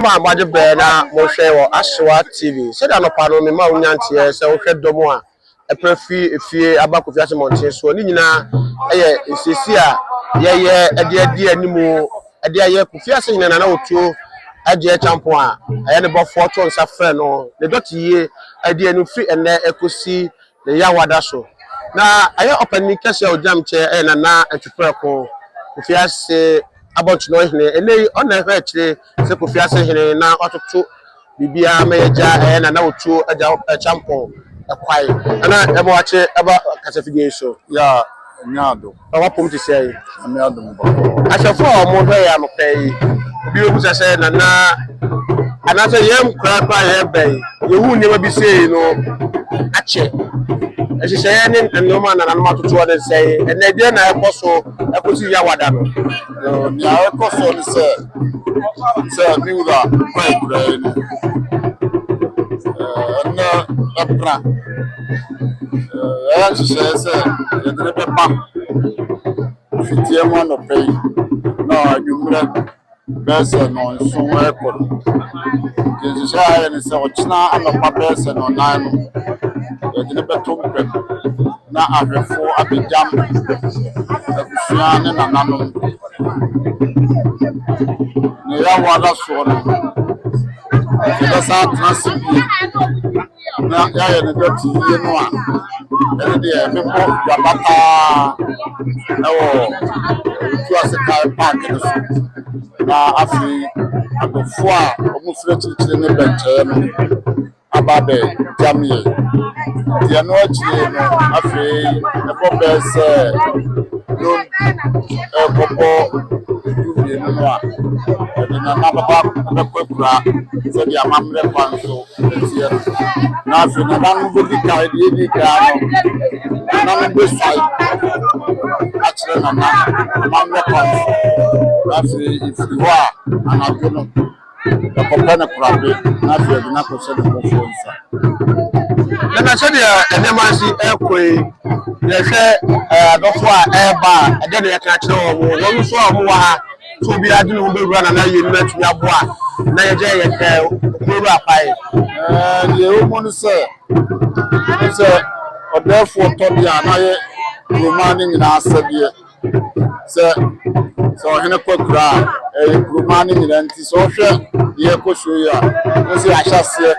Mo a moagye bere na morehwɛ wɔ Asowa TV, sɛnea anɔpa no mema wo nya nteɛ sɛ wohwɛ dɔm a ɛpra fi efie aba Kofi Ase mmɔnten soɔ, ne nyinaa yɛ nsiesie a yɛyɛ de adi anim de ayɛ Kofi Ase Hene Nana Otuo Adjei Acheampong a ɛyɛ ne bɔfoɔ to nsa frɛ no ne dɔte yie adi anim firi ɛnnɛ kɔsi Ne yea wada so. Na ɛyɛ ɔpanin kɛseɛ a ɔgyinam kyɛ yɛ Nana Atuprɛko, Kofi Ase abɔntenɔn hene. Ɛnnɛ yi, ɔna ɛhwɛ akyire sɛ Kofi Ase hene na watoto biribiara ma yɛagya ɛyɛ Nana Otuo agya Kyampɔn ɛkwae na ɛma wakye ɛba kasafidie yi so. Yea, ɛnyɛ ado. Na w'apom te sɛn? Nyame adom bɔkɔɔ. Ahwɛfo a wɔn hwɛ yɛn anɔpɛ yi, obi bɛbusa sɛ, Nana, anaasɛ yɛn nkora koraa yɛn bɛn? Yɛhu nneɛma bi sei no akyɛ. Nhyehyɛeɛ ne nneɛma a nananom atotoɔ no sɛn? Ɛnna ɛdeɛ na ɛkɔ so ɛkɔsi Yawada no? Nea ɛkɔ so ne sɛ, sɛ me wura kwan kura yɛn ni, ɛnna ɛpra. Ɛyɛ nhyehyɛe sɛ yɛde no bɛba mfitiam anɔpa yi na anwummerɛ bɛyɛ sɛ nnɔnson rekɔ no. Nti nhyehyɛe a yɛayɛ ne sɛ ɔkyena anɔpa bɛyɛ sɛ nnɔnnan no, yɛde no bɛto mpam na ahwɛfo abɛgyam abusua ne nananom. Nea yɛawo ada soɔ no, yɛbɛsan atena ase bio. na yɛayɛ no dɔte yie no a, ɛno deɛ mekɔ dwaba paa wɔ Tuasekae Park no so na afei adɔfoɔ a wɔfiri akyirikyiri ne bɛnkyɛeɛ no aba abɛgya me yɛ. Nti ɛno akyire no afei ɛbɔ bɛɛ sɛ no ɛkɔbɔ du mmienu no a, ɛde nana bɛba bɛkɔ akura sɛdeɛ amammerɛ kwan so Nteɛ no, na afei nananom bɛdi kan, deɛ ɛdi kan no, nananom bɛsuae akyerɛ nana amanyɔ kwan so, na afei ɛfiri hɔ a anadwo no ɛkɔpɛ no korabe, na afei ɛde no akɔhyɛ ne bɔfoɔ nsa. Nana sɛdeɛ nneɛma si ɛkɔ yi yɛhwɛ adɔfo a ɛreba a ɛdɛ na yɛka kyerɛ wɔn wɔn nso a wɔwɔ ha sɛ obiara de ne ho bɛwura na na yɛn nyinaa tumi aboa na yɛgya yɛ ɛ ɔmɔwura apae. deɛ ɛwɔ mu no sɛ ne sɛ ɔdɛɛfoɔ tɔ deɛ a na yɛ kuroma no nyinaa sɛdeɛ sɛ sɛ ɔhene kɔ kura a ɛyɛ kuroma no nyinaa nti sɛ ɔhwɛ deɛ ɛkɔ so yi a ne sɛ ahyɛseɛ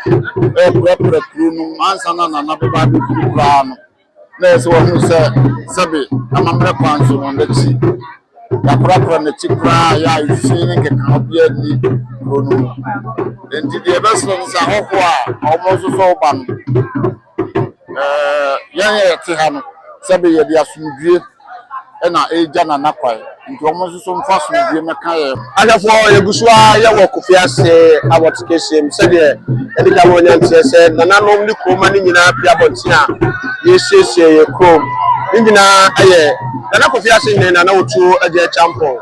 ɛpirapira kuro no ansa na nana bɛba abɛkuru koraa no na ɛsɛ wɔhunu sɛ sɛbe amammerɛ kwan so wɔn akyi yɛakorakora n'akyi koraa yɛ a fi ne nkekaho biara nni kuro no mu enti deɛ ɛbɛsrɛ no sɛ ahɔhoɔ a wɔn nso sɛ ɔba no yɛn yɛte ha no sɛbe yɛde asomdwie na ɛregya Nana kwan nti wɔn nso so mfa asomdwie mmɛka yɛn ho. Ahwɛfoɔ, yɛgu so ara yɛwɔ Kofi Ase Awɔt Kɛseɛ mu sɛdeɛ yɛde ka wɔn nanteɛ sɛ nananom ne kuroma no nyinaa pie abɔnten a yɛresiesie yɛn kurom. Ne nyinaa yɛ Nana Kofi Ase ne Nana Otuo Agya Akyampong,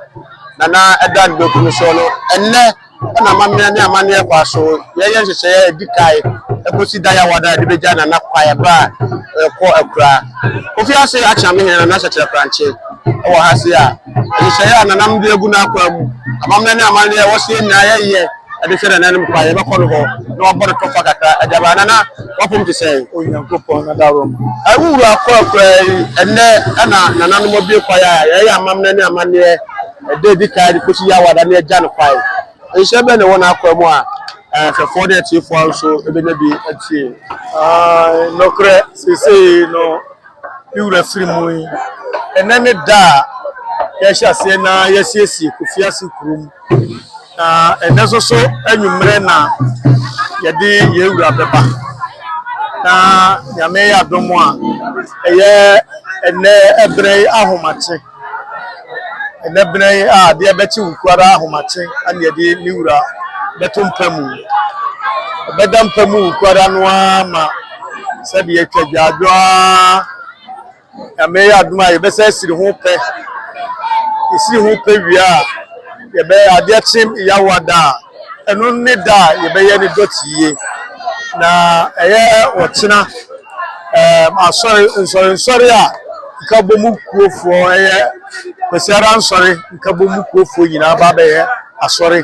Nana Ɛda Nbeku no so no ɛnnɛ. na amammerɛ ne amanneɛ kɔ aso yɛyɛ nhyehyɛeɛ a ɛdi kae ɛkɔsi da yɛawa no a ɛde bɛgya nana kwae ɛberɛ a ɛkɔ akura kofi ase akyea me hene nana hyɛkyerɛ krankye ɛwɔ ha se a nhyehyɛeɛ a nanam de agu no akwa mu amammerɛ ne amanneɛ ɛwɔ seɛ nyinaa yɛyɛ ɛde hwɛ nana anim kwae yɛbɛkɔ no hɔ na wabɔ no tɔfa kakra ɛde aba nana wapom te sɛ onyankopɔn na darom ɛwowura kɔ akura yi ɛnɛ ɛna nananom abie kwae a yɛyɛ amammerɛ ne amanneɛ ɛda a edi kan de kosi Yawada ne agya no kwan. Nhyira bɛn na ɛwɔ n'akwaa mu a ahwɛfo ne atiefo nso benya bi atie? Aane, nokorɛ, seesei no me wura firi mu yi, ɛnnɛ ne da a yɛahyɛ aseɛ na yɛasiesie Kofiase kurom, na ɛnnɛ nso so anwummerɛ na yɛde yɛn wura bɛba, na Nyame yɛ adom a ɛyɛ ɛnnɛ ɛberɛ yi ahomakye. Ɛnnɛ bena yi a adeɛ bɛkye wo kuo ara ahomakye ne ɛde ne wura bɛto mpa mu. Ɛbɛda mpa mu wo kuo ara no ara ma sɛdeɛ atwa gyaadwo ara Nyame yɛ adom a yɛbɛsɛ asiri ho pɛ. Yɛsiri ho pɛ wie a yɛbɛ adeɛ kye yawa da a Ɛno ne da a yɛbɛyɛ no dɔteɛ. Na ɛyɛ ɔkyena um, asɔre, nsɔrensɔre a Nkabomu kurofoɔ ɛyɛ Kwasiada nsɔre Nkabomu kurofoɔ nyinaa ba bɛyɛ asɔre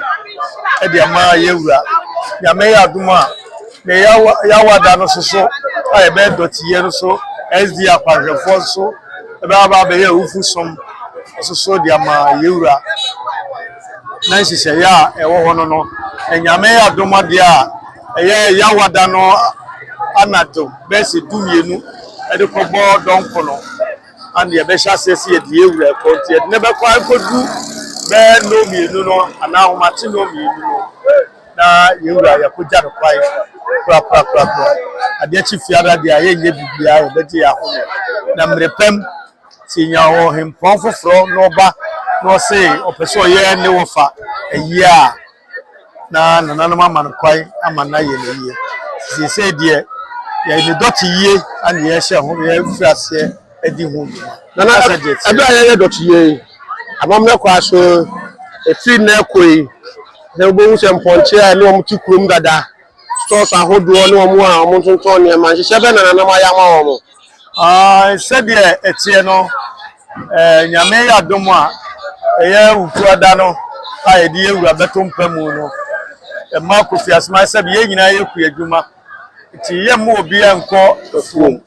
ɛde ama yɛwura. Nyame yɛ adom a, ne yawa da no soso a yɛbɛyɛ dɔteɛ no so SD akwanhwɛfoɔ nso ɛbɛba bɛyɛ awufu som soso de ama yɛwura. na nhyehyɛeɛ a ɛwɔ hɔ no no nyame adom adeɛ a ɛyɛ yawada no anadwo bɛyɛ sɛ du mmienu ɛde kɔbɔ dɔnko no ana yɛbɛhyɛ aseɛ sɛ yɛde yɛ wura ɛkɔ nti yɛde ne bɛkɔ akɔdu bɛyɛ nnɔ mmienu no anaa ahomate nnɔ mmienu no na yɛwura yɛkɔgya no kwae korakorakorakora adeɛ kye fiara deɛ a yɛnyɛ biribiara yɛbɛgye yɛ ahome na mmerɛ pɛm Ntsi nya ɔhempɔn fofor na ɔba na ɔse ɔpɛ dɛ ɔyɛ ne wɔfa ayie a, na nananom ama no kwan ama no ayɛ no ayie. Ntsi sesei deɛ, yɛyɛ no dɔteyie na yɛrehyɛ ho, yɛrefir aseɛ adi ho dwuma. Nana, aber a yɛreyɛ dɔteyie yi, amammerɛ kɔ aso, efir ndɛ kɔ yi, na wobohu sɛ mpɔnkye a nna wɔtse kurom dada, stores ahodoɔ, ne wɔn a wɔtontɔn nneɛma, nhyehyɛ bɛn na nananom ayɛ ama wɔn? Ae, sɛdeɛ ɛteɛ no, eh, Nyame yɛ adom a, ɛyɛ Wukuada no a yɛde yɛ wura bɛto mpa mu no, ɛma Kofi Asmah sɛ yɛn nyinaa yɛ kua adwuma, nti yɛmma obiara nkɔ afuom.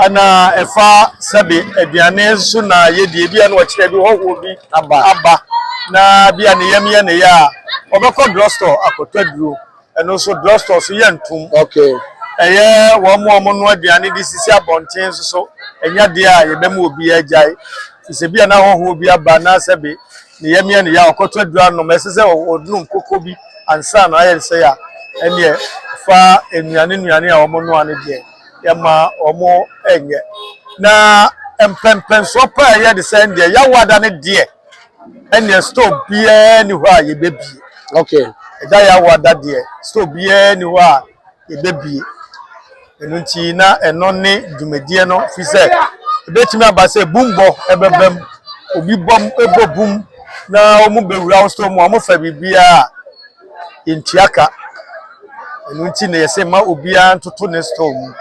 Ɛna ɛfa sɛbe aduane nso na yɛdi, ebi a na ɔkyerɛ bi hɔhoɔ bi aba, aba na bi a ne yam yɛ ne ya a, ɔbɛkɔ drugstore akɔtɔ aduro. ɛno nso drugstore so yɛ ntom okay ɛyɛ wɔn mu wɔn no aduane de sisi abɔnten nso so ɛnyɛ deɛ a yɛbɛma obi agyae te sɛ bi a na ahohoɔ bi aba anaasɛ bi ne yɛ mea ne yɛ a ɔkɔtɔ aduru anom ɛsɛ sɛ ɔnom koko bi ansa na ayɛ nsɛ a ɛneɛ fa nnuane nnuane a wɔn noa no deɛ yɛma wɔn ɛnyɛ na mpɛmpɛnsoɔ paa yɛ de sɛ deɛ yɛawada no deɛ ɛneɛ store biara ni hɔ a yɛbɛbie okay ɛda yɛ awo ada deɛ store biara ni hɔ a yɛbɛbie ɛno nti na ɛno ne dwumadie no fi sɛ ɛbɛtumi aba sɛ bumbɔ ɛbɛba mu obi bɔm ɛbɔ bum na wɔn bɛwura wo store mu a wɔn fa biribiara a yɛntua ka ɛno nti na yɛsɛ ma obiara ntoto ne store mu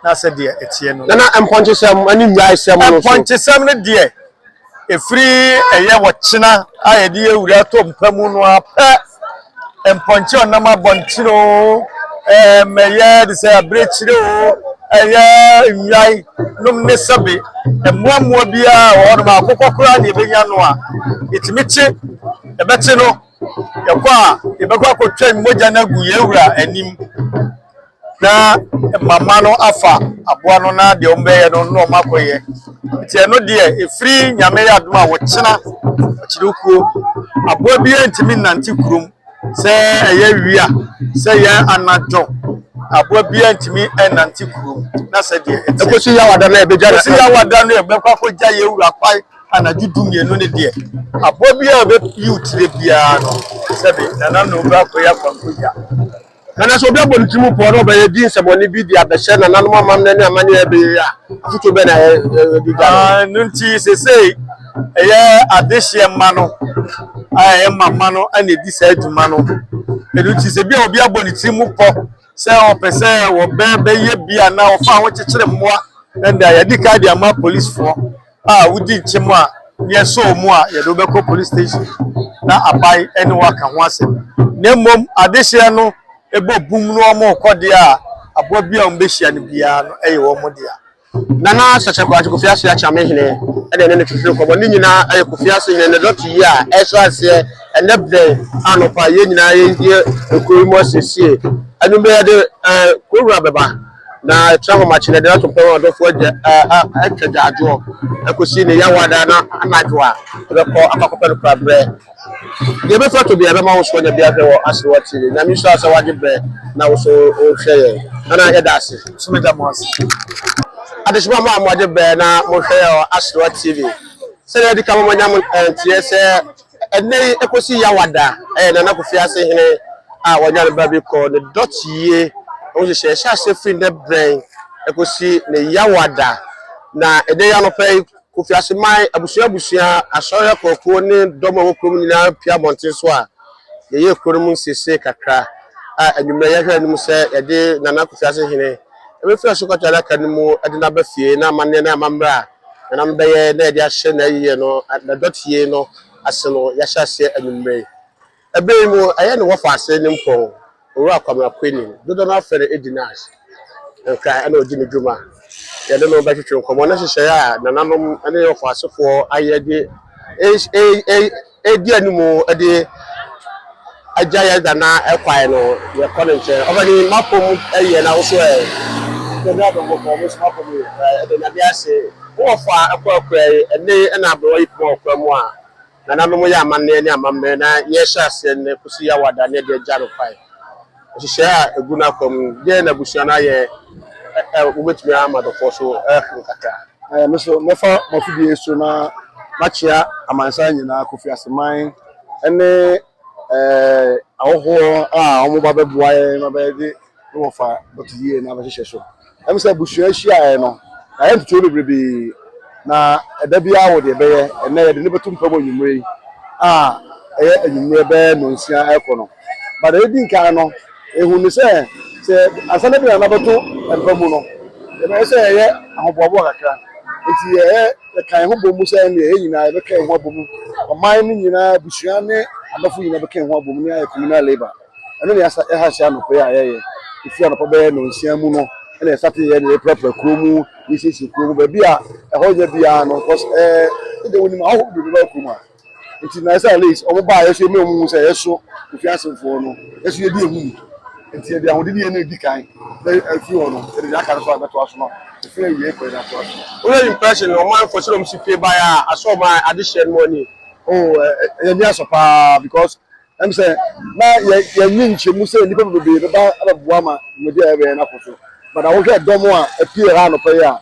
na sɛ deɛ ɛteɛ no nana mpɔnkye sɛm ɛne nnwae sɛm no so mpɔnkye sɛm no deɛ Ɛfiri ɛyɛ ɔkyena a yɛde awura atɔ mpa mu no ara pɛ, mpɔnkye a ɔnam abɔntene o, ɛɛm, ɛyɛ de sɛ abirekyire o, ɛyɛ nnwan nom ne sɛbe mmoa mmoa biara wɔ hɔnom a akokɔ koraa na ɛbɛnya no a ɛtumi te, ɛbɛte no. Yɛkɔ a, yɛbɛkɔ akɔtwɛn mogya no agu yɛn wura anim na mama no afa aboa no na deɛ wɔbɛyɛ no na wɔn akɔyɛ. Nti ɛno deɛ ɛfiri nyame yɛ adom a wɔkyena ɔkyerɛ kuo. Aboa biara ntumi nnante kurom sɛ ɛyɛ wia sɛ ɛyɛ anadwo aboa biara ntumi nnante kurom na sɛ deɛ ɛteɛ. Ɛkɔsi yawada no a ɛbɛgya no. Ɛkɔsi yawada no a ɛbɛkɔ akɔgya yɛn wura kwae. Anadwo du mmienu no deɛ, aboa biara a ɔbɛpiw tire biara no, sɛbe Nana na ɔbɛ akɔyi akwankogya. Nana sɛ obi abɔ ne tirim pɔɔ na ɔbɛyɛ di nsɛmɔne bi de abɛhyɛ Nananom amammerɛ ne amanneɛ a ɛbɛyɛ yi a, afotuo bɛn na yɛde gya no? Ɛno nti seesei ɛyɛ adehyeɛ mma no a ɛyɛ mma mma no na ɛdi saa dwuma no. Ɛno nti sɛ bi a obi abɔ ne tirim pɔ sɛ ɔpɛ sɛ wɔbɛyɛ bi anaa wɔfa ho kyekyere mmoa, ɛnde a yɛadi kan de ama polisfoɔ. a wodi nkyem a yɛsɔ wɔn mu a yɛde wo bɛkɔ police station na aban ne wo aka ho asɛm na mmom adehyeɛ no ɛbɔ bum no wɔn rekɔ deɛ a aboa bi a wɔn bɛhyia no biara no ɛyɛ wɔn dea. Nana Sese Boakye Kofi Ase Akyame Hene ɛna ɛne no twetwe nkɔmmɔ. Ne nyinaa ɛyɛ Kofi Ase Hene ne dɔte yi a ɛhyɛ aseɛ ɛnɛ berɛ anɔpa a yɛn nyinaa yɛn die kuro yi mu asiesie. Anwummerɛ yɛde kuro wura bɛba. Na ɛtra ahomakye na ɛde no ato mpɛn wɔn adɔfoɔ agya a atwa gyaadwoɔ akɔsi ne yawa da no anadwo a ɛbɛkɔ akɔ akɔpɛ no kora berɛ. Deɛ ɛbɛfiri ato biara ɛbɛma wo so anya biara hwɛ wɔ ase wɔ tv. Nyame nhyira wo sɛ woagye berɛ na wo so wohwɛ yɛn. Nana yɛda ase. Nso meda mo ase. Adehyema mo a moagye berɛ na mohwɛ yɛn wɔ Aserewa TV. Sɛdeɛ adi kan mo manya mo nteɛ sɛ Ɛnnɛ yi ɛkɔsi Yawada ɛyɛ Nana Kofi Ase Hene a wɔanya no baabi kɔ ne dɔteyie ho nhyehyɛeɛ ɛhyɛ aseɛ firi nnɛ brɛn ɛkɔsi ne Yawada. Na ɛnnɛ yi anɔpa yi Kofi Ase man abusua abusua, asɔre akuoakuo ne dɔm a ɛwɔ kuro mu nyinaa apue abɔnten so a yɛyɛ kuro no mu nsiesie kakra a anwummerɛ yɛhwɛ anim sɛ yɛde Nana Kofi Ase Hene ɛbɛfiri asɔkɔtɔ adaka no mu de no aba fie na amanneɛ ne amammerɛ a Nam bɛyɛ na yɛde ahyɛ n'ayiyɛ no n'adɔteɛ no ase no yɛahyɛ aseɛ anwummerɛ yi. Ɛberɛ yi mu ɛyɛ ne wɔfaase ne mpɔn Owura Kwame Akwani, dodoɔ no ara frɛ no Edi Nash, nkran ɛna ɔdi ne dwuma. Yɛne no bɛtwetwe nkɔmmɔ ne nhyehyɛeɛ a nananom ne wɔfaasefoɔ ayɛ de ɛɛ ɛɛ ɛɛ. Edi anim de agya yɛ dana kwae no yɛkɔ ne nkyɛn ɔbɛ ni mapom yɛ na woso ɛ tɛnura bɛ mo kɔ mo so mapom yɛ de nyame ase wɔ fa ɛkɔ akura yi ɛne ɛna abɛwa yi poma ɔkura mu a nana no mo yɛ amanneɛ ne amammerɛ na yɛhyɛ aseɛ ne kosi yɛ awada ne ɛde agya no kwae. Nhyehyɛe a egu n'akwan mu no, dɛn na abusua no ayɛ a wobetumi ama adɔfo so ahuru kakra? Ɛɛ, me nso mɛfa mo afidie yi so na makyea amansan nyinaa, Kofi Aseman ne ɛɛ ahɔhoɔ a wɔba bɛboa yɛn ma bɛde ne wɔfa bɛto yie na abɛhyehyɛ so. Ɛm sɛ abusua ahyiaɛ no na yɛ ntetee bebrebe na ɛda biara wɔ deɛ ɛbɛyɛ. Ɛnnɛ yɛde no bɛto mpam anwumerɛ yi a ɛyɛ anwumerɛ bɛyɛ nnɔnsia rekɔ no. But deɛ ɛdi nkan no, ɛhunu ne sɛ sɛ ansa na Aduane no abɛto mpa mu no, yɛbɛyɛ sɛ yɛyɛ ahoboaboa kakra. Nti yɛyɛ yɛka yɛn ho bɔ mu sɛ ɛnneɛ yɛn nyinaa yɛbɛka yɛn ho abɔ mu. Ɔman no nyinaa, abusua ne adɔfo nyinaa bɛka yɛn ho abɔ mu ne ayɛ communal labour. ɛno na yɛasa ɛha hyɛ anɔpa yi a yɛyɛ efi anɔpa bɛyɛ nonsia mu no ɛna yɛsate yɛ na yɛpirapira kuro mu yɛsiesie kuro mu baabi a ɛhɔ nyɛ biara no kɔs ɛɛ ɛdɛ wɔnim ahɔ bebree bɛba kuro mu a nti na ɛsɛ alais wɔn baa yɛso yɛmɛ wɔn mu sɛ yɛso ofi asefoɔ no yɛso yɛdi ehu mu nti yɛde ahoɔden yɛ na edi kan na efi hɔ no yɛde yɛ aka no so a bɛto aso no efi yɛ yie kɔ yɛ na to aso. Wúlò impression na ọmọ ẹ̀fọ́ sọ̀rọ̀ mu sí pé báyà aṣọ ọmọ adéṣe ẹni wọ́n ni. Oh, ẹ̀yẹ ní aṣọ paa because Ɛne sɛ, na yɛnnye nkyɛmu sɛ nnipa bebree bɛba abɛboa ma dwumadi a yɛbɛyɛ no akɔ so. But na wohwɛ dɔm a apue ha anɔpa yi a,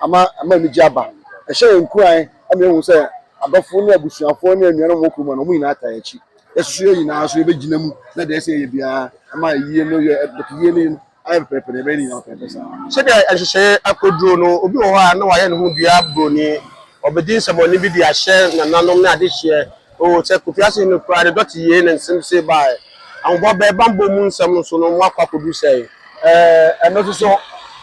ama ama anigye aba. Ɛhyɛ yɛn nkuran ma yɛhu sɛ adɔfo ne abusuafo ne anuanom wɔ kurom ha no, wɔn nyinaa taa yɛn akyi. Yɛsusu yɛn nyinaa nso yɛbɛgyina mu na deɛ ɛsɛ sɛ yɛyɛ biara ma ayie no yɛ, but yie no yɛ no. Ayɛ pɛpɛɛpɛ na ɛbɛyɛ ne nyinaa pɛpɛɛpɛ saa. Sɛdeɛ nhyehyɛeɛ akɔduro no, obi wɔ hɔ a na wayɛ ne ho dua buroni, ɔbɛdi nsɛmmɔne bi de ahyɛ nananom ne adehyeɛ. Oo, sɛ Kofi Asehene no koraa, ne dɔte yiee ne nsem see baeɛ. Ahoboa bɛn banbɔ mu nsɛm no so no moakɔ akɔduru sɛn? Ɛɛ, ɛnnɛ nso so,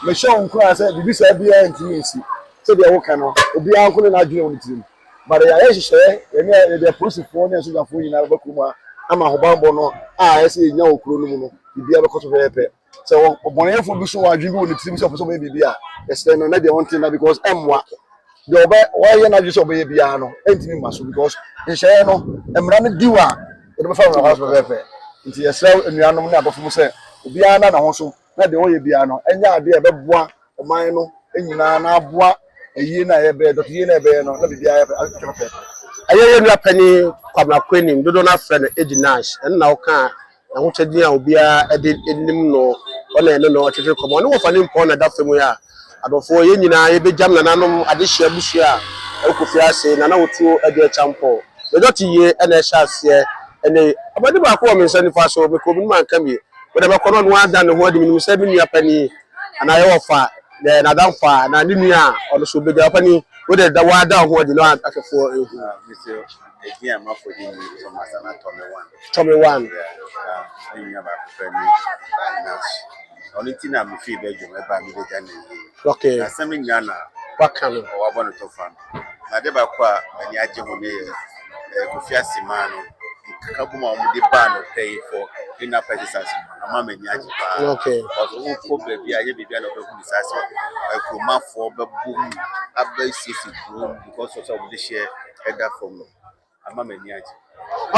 mehyɛ wo nkuran sɛ biribi saa biara ntumi nsi. Sɛdeɛ woka no, obiara nko ne n'adwene wɔ ne tirim. But yɛayɛ nhyehyɛɛ, yɛne a yɛde apolisifoɔ ne asogyafoɔ nyinaa bɛba kurom ha ama ahobammɔ no a ɛyɛ sɛ yɛnya wɔ kuro no mu no, biribiara bɛkɔ so pɛpɛɛpɛ. Sɛ ɔbɔneyɛfoɔ bi so wɔ adwene bi wɔ ne tirim sɛ ɔpɛ sɛ ɔbɛyɛ biribi a, yɛsrɛ no na deɛ ɔnte nna because ɛmmoa. Deɛ ɔbɛ, wayɛ n'adwene sɛ ɔbɛyɛ biara no, ɛntumi mma so because nhyehyɛeɛ no, mmara no di hɔ a, yɛde bɛfa no mmara so pɛpɛɛpɛ. Nti yɛsrɛ anuanom ne adɔfo mu sɛ obiara nna ne ho so na deɛ wɔyɛ biara no nyɛ adeɛ a ɛbɛboa ɔman no nyinaa na aboa ayie no a yɛbɛyɛ, dɔteyie no a yɛbɛyɛ no na biribiara ayɛ pɛpɛɛpɛ. Ɛyɛ yɛn nua panin Kwabena Kwenim, dodoɔ no ara frɛ no Agyi Nash, ɛno na ɔkaa n'ahokyɛ din a obiara de nim no, ɔne yɛne no twetwee nkɔmmɔ. Ɔne Wɔfa Nimpɔn na ɛda fa mu yi a. Adɔfoɔ, yɛn nyinaa yɛbɛgyam nananom adehyeɛ abusua a ɛwɔ Kofi Ase, Nana Otuo Adu Acheampong. Ne dɔte yie na ɛhyɛ aseɛ ɛnnɛ yi. Ɔba di baako wɔ me nsa nifa so, mekɔ menim anka me mede bɛkɔ na ɔno ara adane ne ho adi, menim sɛ me nua panin anaa yɛ wɔfa, yɛ n'adamfo a, anaa ne nua a, ɔno nso ɔbɛgya. Ɔpanin, wo deɛ da wo ara da wo ho adi na ahwɛfoɔ nhu. Edin a mafo de ni Thomas ana Tommy One. Tommy One. Ne nua baako pɛ ne Nash. Ɔno ti na me fii Belgium ɛba mi bɛgya ne yie. Okay. Na asɛm no nyinaa na. Waka no. Ɔwabɔ no to fa no. Na ade baako a m'ani agye ho ne yɛ eh, Kofi Asimaa no nkeka bom a wɔde baa no pɛ yi for clean up exercise no ama m'ani agye paa. Okay. Ɔso wokɔ baabi a yɛ baabi a na ɔbɛhu ne saa sɛ akuromafoɔ bɛbom abɛsiesie kurom because of sɛ wɔde hyɛ ɛda fam no ama m'ani agye.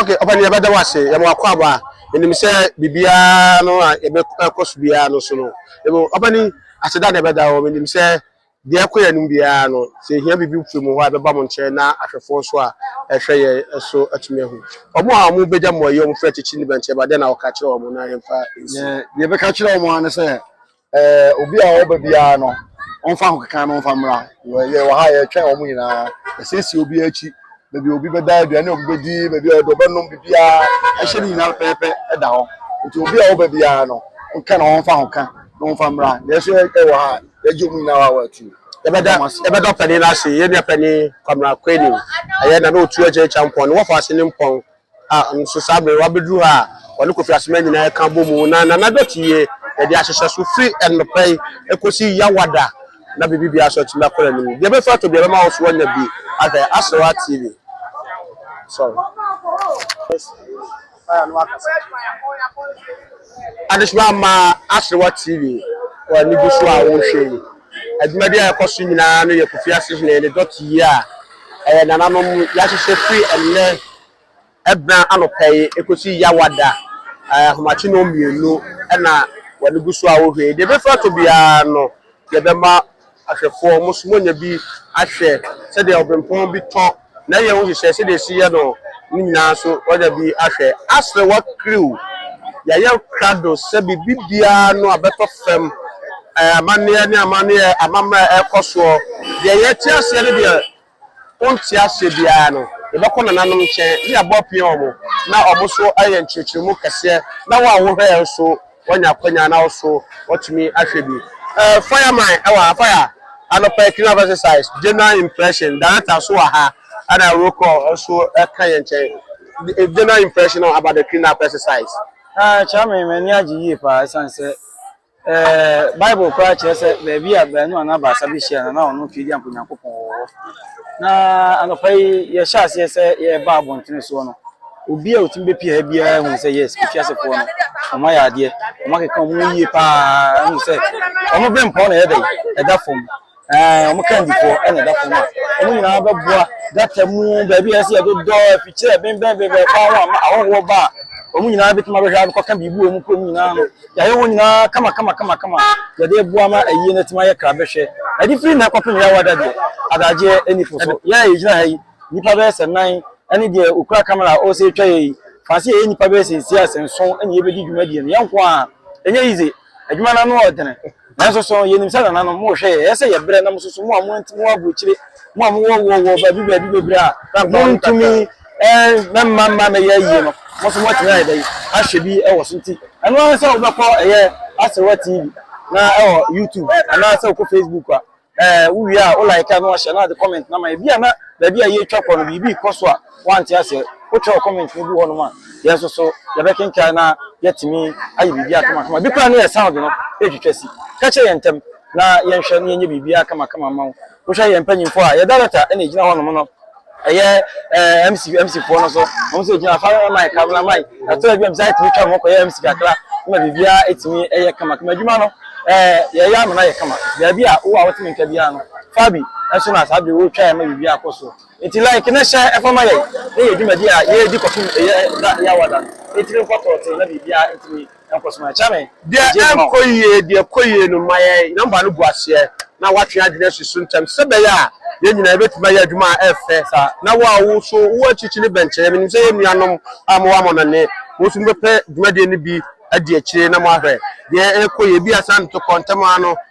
Okay, ɔpɛni yɛ bɛ da wase yɛ mo akɔ aba enim sɛ bibia no a yɛ bɛ ɛkɔ so bia no so no ebo ɔpɛni ase da na ɛbɛ da wɔn enim sɛ deɛ ɛkɔ yɛ anim bia no sɛ ehia bibi firi mo hɔ a ɛbɛ ba mo nkyɛn na ahwɛfoɔ nso a ɛhwɛ yɛ ɛso atumi ahu wɔn a wɔn bɛ gya mo ayi wɔn firi akyekyi ne bɛnkyɛ ba deɛ na ɔka kyerɛ wɔn na yɛn fa nsi. Deɛ yɛ bɛ ka kyerɛ wɔn ara ne sɛ Ɛɛ obi a ɔba biara no ɔmfa ahokekan no mfa mmra yɛ wɔ ha yɛtwɛn wɔn nyinaa yɛsiesie obi akyi baabi obi bɛda aduane a obi bɛdi baabi a ɔdɔ bɛnom biribiara ɛhyɛ ne nyinaa pɛpɛpɛ ɛda hɔ nti obi a ɔba biara no nka na ɔmfa ahoka na ɔmfa mmra yɛso ɛwɔ ha yɛgye wɔn nyinaa wɔ awɔ atu yɛbɛda yɛbɛda ɔpɛni no ase yɛnua pɛni kwamra kwani ɛyɛ na na ɔtu agyɛ kyampɔn ne wɔfa ase ne mpɔn Ah ɔno nso saa bere wabeduru hɔ a ɔne Kofi Asoma nyinaa ɛka bɔ mu na Nana Dɔte yie yɛde ahyehyɛ so firi ɛnɔpa yi ɛkɔsi Yawada na biribi biara nso atumi akɔ n'anim. Deɛ ɛbɛfiri ato bi ɛbɛma wo nso wanya bi ahwɛ Aserewa TV. Sorry. Adesoma ama Aserewa TV wɔ anigye so a wohwɛ yi. Adwumadi a ɛkɔ so nyinaa no yɛ Kofi Asehene ne dɔte yi a ɛyɛ nananom yɛahyehyɛ firi ɛnnɛ bena anɔpa yi ɛkɔsi Yawada ahomakye nnɔn mmienu na wɔde gu so a wɔhwie yi. Deɛ ɛbɛfiri atɔ biara no yɛbɛma ahwɛfoɔ, mo nso moanya bi ahwɛ sɛdeɛ ɔberempɔn bi tɔ. na yɛn ho hyehyɛ sɛdeɛ ɛsi yɛ no ne nyinaa so ɔda bi ahwɛ asrɛ wakriw yɛayɛ krado sɛ biribi biara no a bɛtɔ fam amanneɛ ne amanneɛ amammerɛ a ɛkɔ soɔ deɛ yɛte aseɛ ne deɛ wonte aseɛ biara no yɛbɛkɔ nananom nkyɛn ne abɔ apia wɔn na wɔn so ayɛ nkyerɛkyerɛmu kɛseɛ na wɔn a wohwɛ yɛn so wɔanya akwanya na wɔso wɔtumi ahwɛ bi. Eh, fire man, ɛwɔ ha, fire. Anɔpa yi clean up exercise, general impression, director so wɔ ha, ɛna roll call nso ɛka yɛn nkyɛn. Eh, general impression about the clean up exercise. Ah, Charmaine, m'ani agye yie paa ɛsiane sɛ eh, Bible koraa kyerɛ sɛ baabi a baanu anaa baasa bɛhyia no na ɔno nso yɛdi anko Nyankopɔn wɔ hɔ. Na anɔpa yi yɛhyɛ aseɛ sɛ yɛreba abɔntene soɔ no, Obi a otumi bepue ha biara hu sɛ yes, efi ase poɔ no, wɔn ayɛ adeɛ, wɔn akeka wɔn ho yie paa, hu sɛ wɔn bɛn pɔn na ɛyɛ dɛ, ɛda fam, ɛɛ wɔn kan difoɔ ɛna ɛda fam a, wɔn nyinaa bɛboa gata mu, baabi a ɛsɛ yɛdodɔ, afikyire ɛbɛnbɛnbɛnbɛn paa ho ama ahɔhoɔ ba a, wɔn nyinaa bɛtumi abɛhwɛ abɛkɔka biribi wɔ wɔn kurom nyinaa no, yɛayɛ wɔn nyinaa kama kama kama kama, yɛde boa ma ayie no atumi ayɛ krabɛhwɛ, ɛde firi nnɛ kɔpem yɛawa da deɛ, adagyeɛ ɛni fo so, yɛn a yɛgyina ha yi, Nnipa bɛyɛ sɛ nan ne deɛ ɔkura camera a ɔsɛ twa yɛyi. Fa sɛ yɛyɛ nnipa bɛyɛ sɛ nsia sɛ nson ne yɛbɛdi dwumadie no yɛnko ara a. Ɛnyɛ easy. Adwuma no ano ɔdene. Nanso so yɛnim sɛ nananom mohwɛ yɛn. Ɛyɛ sɛ yɛbrɛ na mososo mo a mo nti mo wɔ aburokyire, mo a mo wɔ wɔ wɔ baabi baabi bebree a montumi mma mma mma mɛyɛ ayie no, mo nso moatumi ayɛ dɛn ahwɛ bi wɔ so nti ɛno ara sɛ wobɛkɔ ɛyɛ Aserewa TV na ɛwɔ YouTube anaa sɛ wokɔ Facebook a. Eh wo wie a wo like a na wahyɛ na ade comment na ma yɛ. Bi a na baabi a yɛretwa kɔ no biribi rekɔ so a woante aseɛ. Wo twerɛ comment no gu hɔ nom a yɛn nso so yɛbɛkenkan na yɛatumi ayɛ biribiara kamakama. Bi koraa ne yɛn sound no retwitwa si. Ka kyerɛ yɛn ntɛm na yɛnhwɛ na yɛnyɛ biribiara kamakama mma wo. Wohwɛ yɛn mpanyimfoɔ a yɛn director na ɛgyina hɔ nom no. ɛyɛ ɛɛ mc mc foɔ no so wɔn nso gyina afa ɛma ɛka bla ma ɛtɔ ɛbi ɛmisa ɛtumi twa wɔn kɔ yɛ mc kakra ɛma biribiara ɛtumi ɛyɛ kama kama adwuma no ɛɛ yɛyɛ ama no ayɛ kama baabi a wo a wɔtumi nka biara no fa bi ɛso na saa bere wɔretwa ɛma biribiara akɔ so nti like ne hyɛ ɛfa ma yɛ ne yɛ dwumadi a yɛredi kɔfim ɛyɛ da yɛ awada no ɛtumi nkɔtɔɔte na biribiara ɛtumi Deɛ ɛnkɔ yie, deɛ ɛkɔ yie no, ma yɛn nɔmba no gu aseɛ na woatwe adwene asi so ntɛm sɛ ɛbɛyɛ a yɛn nyinaa yɛbɛtumi ayɛ adwuma a ɛyɛ fɛ saa. Na wo a wo nso wowɔ akyirikyiri no bɛnkyɛre. Menim sɛ yɛn nuanom a mowɔ amannɔne, mo nso mobɛpɛ dwumadie no bi adi akyire na moahwɛ deɛ ɛrekɔ yie. Ebia saa ntokɔ ntɛm ara no,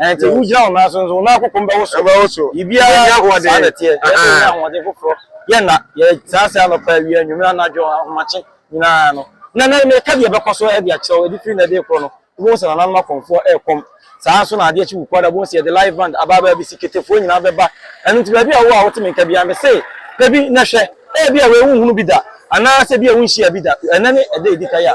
Ɛnti wo gyina wo nan so nso wo nan kokom bɛwo so. Ɛbɛwo so. Biribiara yɛ ahoɔden. Saa na ɛteɛ. Yɛ sɛ yɛ ahoɔden foforɔ. Yɛ nna. Yɛ saa ase anɔpa awia nwumire anadwo ahomakye nyinaa no. Na na meka deɛ ɛbɛkɔ so ɛde akyerɛ wo ɛde firi nnɛ de rekɔ no wobɛhu sɛ nananom akɔmfoɔ rekɔm. Saa nso na adeɛ kye wu kuada wobɛhu sɛ yɛde live band aba aba abɛsi ketefoɔ nyinaa bɛba. Ɛno nti baabi a wowɔ a wote me nka biara mese pɛ bi na hwɛ. Ɛyɛ bi a wei wonhunu bi da anaasɛ bi a wonhyia bi da. Ɛnɛ ne ɛda ɛdi kan a.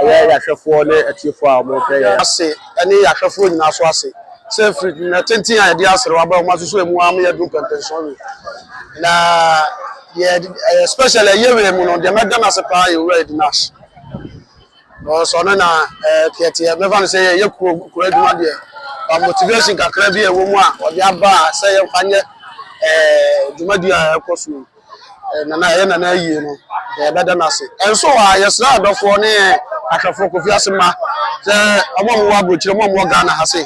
Ɛyɛ yɛn ahwɛfoɔ ne atiefoɔ a wɔhwɛ yɛn. Ase ne yɛn ahwɛfoɔ nyinaa nso ase sɛ firi nna tenten a yɛde aserew aba yi wɔasoso emu ara ma yɛadu mpɛmpɛnson wei. Na yɛde ɛyɛ special ɛyɛ wei mu no deɛ mɛda no ase paa yɛ Owura Eddie Nash. Because ɔno na ɛɛ teɛteɛ mɛfa no sɛ yɛyɛ kuro kuro adwuma deɛ ba motivation kakra bi a ɛwɔ mu a ɔde aba a sɛ yɛmfa nyɛ ɛɛ dwumadi a ɛrekɔ so yi. Nana a ɛyɛ Nana ayie no, yɛbɛda no ase. Ɛnso hɔ a, yɛsrɛ adɔfoɔ ne ahwɛfoɔ Kofi Ase mma sɛ wɔn a wɔwɔ aburokyire, wɔn a wɔwɔ Ghana ha se,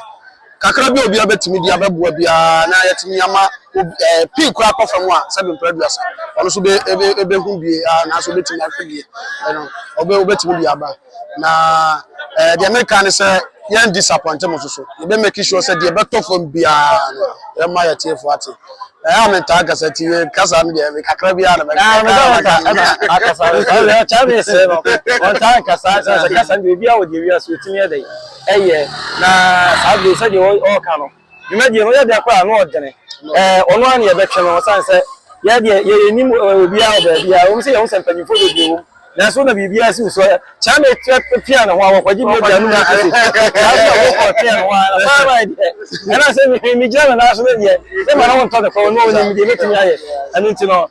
kakra bi a obiara bɛtumi de abɛboa biara na yɛatumi ama obi ɛɛ pii koraa akɔ fam a sɛbi mpere aduasa. Ɔno nso bɛ ɛbɛ ɛbɛhu bie a nanso ɔbɛtumi ahwɛ bie ɛno ɔbɛ ɔbɛtumi de aba. na ɛɛ eh, deɛ meka ne sɛ yɛn disappoint mo soso yɛbɛ make sure sɛ deɛ ɛbɛtɔ fam biara no yɛma yɛ tiefo ate ɛyɛ a metaa kasa ti yɛ kasa no deɛ kakra biara na mɛka ah, akasa kyɛ me sɛ no ɔntaa kasa sɛ sɛ kasa no deɛ obiara wɔ deɛ wiase ɔtumi ɛdɛ ɛyɛ na saa deɛ sɛdeɛ ɔɔka no Dwumadie no yɛ dɛn koraa no ɔdene ɛɛ ɔno ara na yɛbɛtwe no ɔsane sɛ yɛ deɛ yɛ yɛnim obiara wɔ baabi a ɛwom sɛ yɛhu sɛ mpanimfoɔ bebree wɔ mu nanso na biribiara si wo so Kyame pia ne ho a wɔkɔgye bi aduane mu nso so saa nso na wɔkɔ pia ne ho a na paa maa deɛ ɛna sɛ megyina ne nan so no deɛ mema ne ho ntɔ ne fam no ɔnim deɛ mɛtumi ayɛ ɛno nti no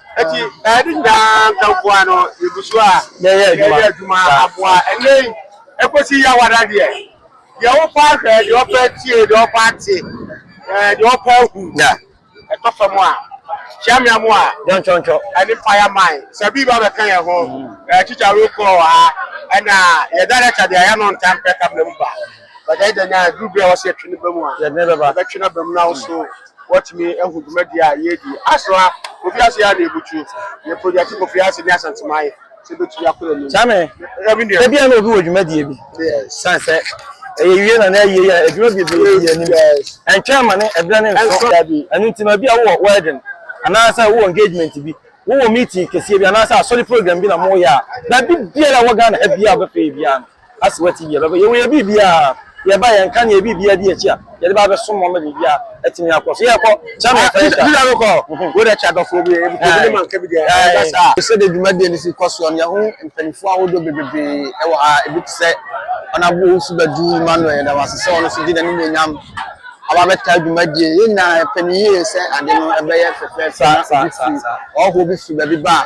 Enti, ɛyɛ ne nyinaa nkamfoa no yɛgu so a yɛyɛ adwuma aboa. Ɛnnɛ yi, ɛkɔsi Yawada deɛ, deɛ wopa ahwɛ, deɛ ɔpɛ tie, deɛ ɔpɛ ate, deɛ ɔpɛ ahu, ɛtɔ fam a, hyia me amoa ɛne Fire Mine. Sɛ biribi ba bɛka yɛn ho, tikya wokɔ wɔ ha, ɛna yɛ director deɛ yɛ no ntampɛ kamena mu ba. But ɛyɛ dɛn a, ɛduru berɛ a ɛwɔ sɛ yɛtwe no ba mu a, yɛbɛtwe no aba mu na wo nso Wɔatumi ahu dwumadi a yɛredi. Asra, Kofi Ase a na ebutu. Yɛ projɛte Kofi Ase ne Asante Mine sɛ ebetumi akɔ anim. Kyame, Ebia na obi wɔ dwumadie bi. Yes. Sane sɛ ɛyɛ wie na na ayie yɛ adwuma bebree di anim. Yes. Ɛntwɛn ma ne ɛberɛ ne nso. Ɛnso dabi. Ɛno nti no ebia wowɔ wedding anaasɛ wowɔ engagement bi, wowɔ meeting kɛseɛ bi anaasɛ asɔre program bi na moyɛ a, baabi biara a ɛwɔ Ghana ha biara a wobɛpɛ yɛ biara no, Ase wɔ TV a ɛbɛba. Yɛwɔ yɛ biribiara a, yɛba yɛn nka ne yɛ biribiara di akyi a, yɛde ba abɛsom mo ama biribiara atumi akɔ so. Yɛkɔ Germany fɛn sika. Juda no kɔ. Wo de kyɛ adɔfoɔ bi, ebi kɔ bi ne ma nka bi deɛ, ɛda saa. Sɛdeɛ dwumadie no si kɔ soɔ no, yɛahu mpanimfoɔ ahodoɔ bebree wɔ ha. Ebi te sɛ Honourable Owusu Badu Emmanuel, yɛda no ase sɛ ɔno nso de n'animuonyam aba abɛtaa dwumadie. Yɛn nyinaa yɛpɛ no yie sɛ ade no ɛbɛyɛ fɛfɛɛfɛ na obi firi, ɔhɔhoɔ bi firi baabi ba a,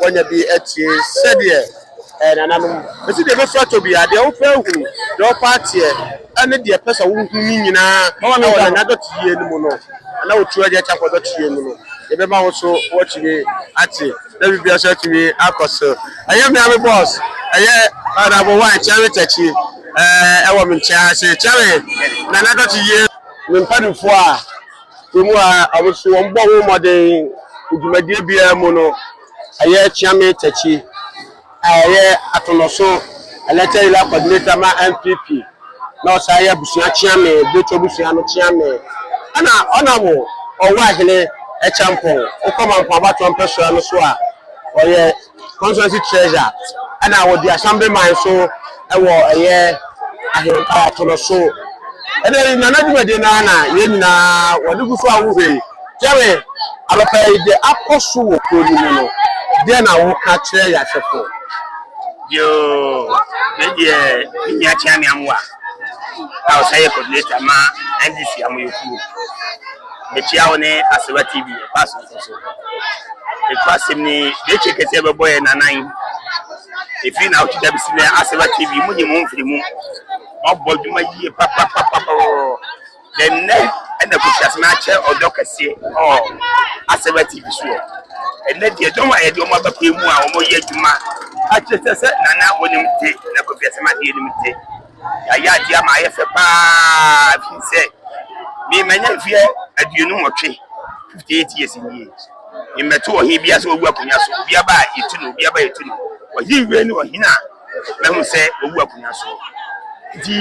wɔanya bi atie sɛdeɛ ɛɛ nananom. Enti deɛ ɛbɛfira tɔ biara, deɛ wopɛ ahunu, deɛ wopɛ ateɛ, ɛne deɛ ɛpɛ sɛ wohu no nyinaa wɔ Nyame adɔteyie no mu no, na wɔtu agya kyɛ kɔ adɔteyie mu no, yɛbɛma wo nso woatumi ate, na biribiara nso atumi akɔ so. Ɛyɛ me ara me boss, ɛyɛ Honourable One Kyɛre Takyi, ɛɛ ɛwɔ me nkyɛn ha sei. Kyɛre, Nana Adɔteyie. Me mpaninfoɔ a Kurom a wɔn nso wɔbɔ ho mmɔden wɔ dwumadie biara mu no ɛyɛ Kyame Takyi a ɔyɛ Atonoso Elected Area Coordinator ma NPP na ɔsan yɛ abusua Kyame, Bretwa abusua no Kyame ɛna ɔnam Ɔwɔ Ahene Kyampɔn, Okwama Mpɔn Abatoɔ Mpɛsoa no so a ɔyɛ. constituency treasurer ɛna wɔdi assembly man so ɛwɔ ɛyɛ ahempa atono so ɛna yi nana dwumadie no ara na yɛn nyinaa wɔde gu so a wohwɛ yi kyɛre abɛpɛ yi deɛ akɔ so wɔ kuro no mu no deɛ na woka kyerɛ yɛahwɛfoɔ yoo ne deɛ ne nua kyea ne amoa a ɔsɛ yɛ coordinator ma ndc amoyɛkuo Mekyia wo ne Asewa TV ɛkɔ asomfo so. Ɛkɔ asɛm ni bɛkye kɛse ɛbɛbɔ yɛ nanan. Ɛfiri na wotwitwa bɛsi nɛ Asewa TV mu nyi mu mfiri mu. Ɔbɔ dwuma yie papapapapapapɔ. Dɛ nnɛ ɛna kɔhyia sɛ akyɛ ɔdɔ kɛse ɔ Asewa TV so. Ɛnɛ deɛ dɔm a yɛde ɔmo abɛkɔ mu a ɔmo yɛ adwuma akyɛ sɛ sɛ nana wɔnim te na kɔfiasɛm adeɛ nim te. Yɛayɛ adeɛ ama ayɛ fɛ paa firi sɛ me manya mfeɛ aduonu nwɔtwe fifty eight years nie mmɛto ɔhene bia sɛ wawu akonnwa so obi aba a yɛtu no obi aba a yɛtu no ɔhene wei ne ɔhene a mahu sɛ wawu akonnwa so nti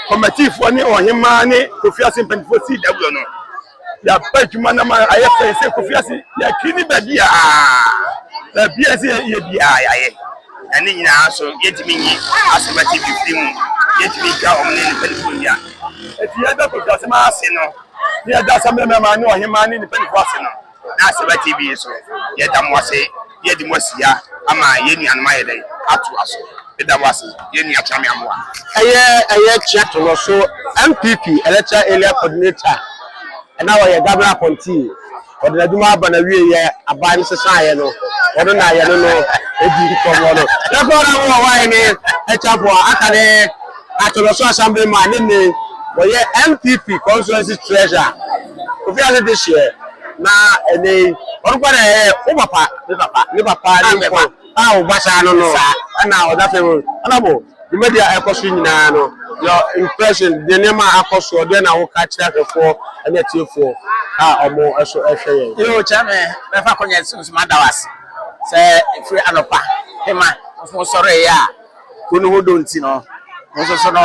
kɔmatifoɔ ne ɔhemaa ne kofi ase mpanimfoɔ sii daguo no yɛaba adwuma no ma ayɛ fɛ sɛ kofi ase yɛakiri ne baabi a baabi a sɛ yɛyɛ biara yɛayɛ na ne nyinaa so yɛtumi nyi asɛm ati bi firi mu yɛtumi twa wɔn ne nipadifo nnia ɛti yɛda kofi asɛm ase no ne yɛda asɛm bɛmɛma ne ɔhema ne nipadifo ase no na asɛm ati bi so yɛda mo ase Yɛde mo asi ha ama yɛn nuanom ayɛ dɛn? Atoa so. Meda mo ase, yɛn nua Kyame Amoah. Ɛyɛ ɛyɛ kyerɛ to no so NPP Electoral Area Coordinator na ɔyɛ Governor Appointee. Ɔde n'adwuma aba n'awieɛ, aban no sesaeɛ no, ɔno na yɛne no di nkɔmmɔ no. Yɛkɔ na mo wɔ hɔ ne Acheampong a aka ne Atonoso Assemblyman ne nnɛ yi ɔyɛ NPP Constituency Treasurer, Kofi Ase Dehyeɛ. Na ɛnɛ yi ɔno kora na ɛyɛ wo papa me papa me papa ne me papa a wo ba saa no no ɛna ɔda fɛ mu ɛna mo dwumadi a ɛkɔ so nyinaa no your impression deɛ nneɛma a akɔ soɔ deɛ na woka kyerɛ ahwɛfoɔ ɛne atiefoɔ a ɔmo ɛso ɛhwɛ yɛn. Yoo kyerɛ me mɛfa akɔnyɛ nso mada wo ase sɛ ɛfiri anɔpa pema nso sɔreeɛ a. Kuw no ho dɔ nti no, mo nso so no,